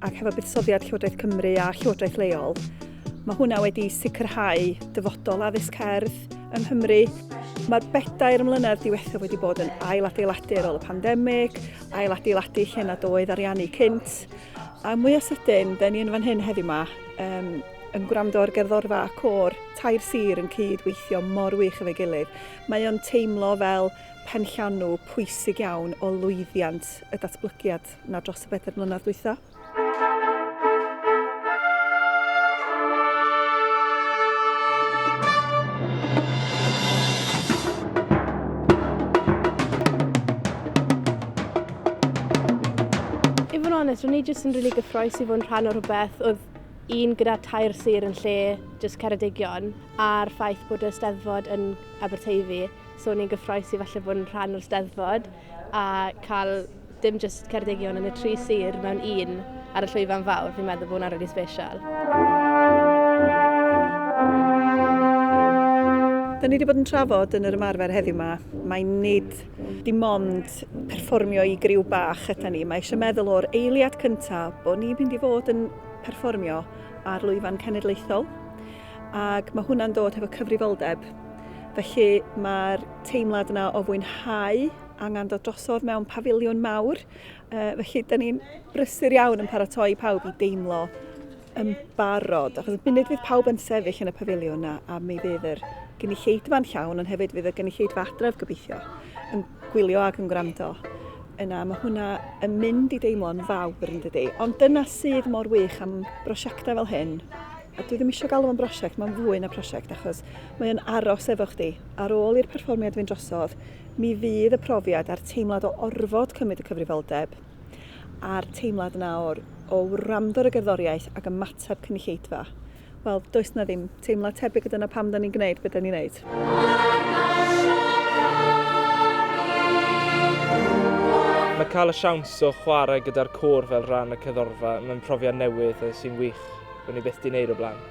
ac hefo buddsoddiad Llywodraeth Cymru a Llywodraeth leol, mae hwnna wedi sicrhau dyfodol addysg cerdd yng Nghymru. Mae'r bedair mlynedd diwethaf wedi bod yn ailadeiladu ar ôl y pandemig, ailadeiladu lle nad oedd ariannu cynt, a mwy o sydyn, da ni yn fan hyn heddiw yma, um, yn gwrando ar gerddorfa a cor, tair sir yn cyd-weithio mor wych efo'i gilydd. Mae o'n teimlo fel penllanw pwysig iawn o lwyddiant y datblygiad. na dros y bedair mlynedd dwytha. I fod yn onest, ro'n i jyst yn rili gyffroes i fod yn rhan o rhywbeth oedd un gyda tair sir yn lle jyst Ceredigion a'r ffaith bod y steddfod yn Aberteifi. So ni'n gyffroes i falle bod yn rhan o'r steddfod a cael Dim jyst Ceredigion yn y tri sir mewn un ar y llwyfan fawr, fi'n meddwl bod hwnna'n rili special. Da ni wedi bod yn trafod yn yr ymarfer heddiw yma, mae nid dim ond perfformio i griw bach ydy ni. Mae eisiau meddwl o'r eiliad cyntaf bod ni'n mynd i fod yn perfformio ar lwyfan cenedlaethol ac mae hwnna'n dod hefo cyfrifoldeb. Felly mae'r teimlad yna o fwynhau angen dod drosodd mewn pafiliwn mawr. Uh, felly, da ni'n brysur iawn yn paratoi pawb i deimlo yn barod. Achos y munud fydd pawb yn sefyll yn y pafiliwn a, a mi fydd yr gynulleidfa'n llawn, ond hefyd fydd y gynulleidfa adref gobeithio yn gwylio ac yn gwrando. Yna mae hwnna yn mynd i deimlo'n fawr yn dydy. Ond dyna sydd mor wych am brosiectau fel hyn. A dwi ddim eisiau galw am brosiect, mae'n fwy na prosiect achos mae'n aros efo chdi. Ar ôl i'r perfformiad fynd drosodd, Mi fydd y profiad a'r teimlad o orfod cymryd y cyfrifoldeb, a'r teimlad 'na o'r o wrando ar y gerddoriaeth ac ymateb cynulleidfa, wel, does 'na ddim teimlad tebyg a dyna pam 'dan ni'n gwneud be' 'dan ni'n neud. Mae cael y siawns o chwarae gyda'r côr fel rhan y cerddorfa, mae'n profiad newydd a sy'n wych, bo' ni byth 'di neud o blaen.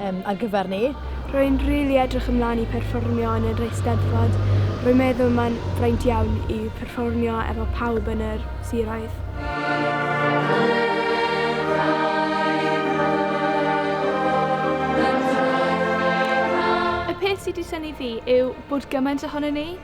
um, ar gyfer ni. Rwy'n rili really edrych ymlaen i perfformio yn yr Eisteddfod. Rwy'n meddwl mae'n fraint iawn i perfformio efo pawb yn yr siroedd. Y peth sydd wedi syni fi yw bod gymaint ohono ni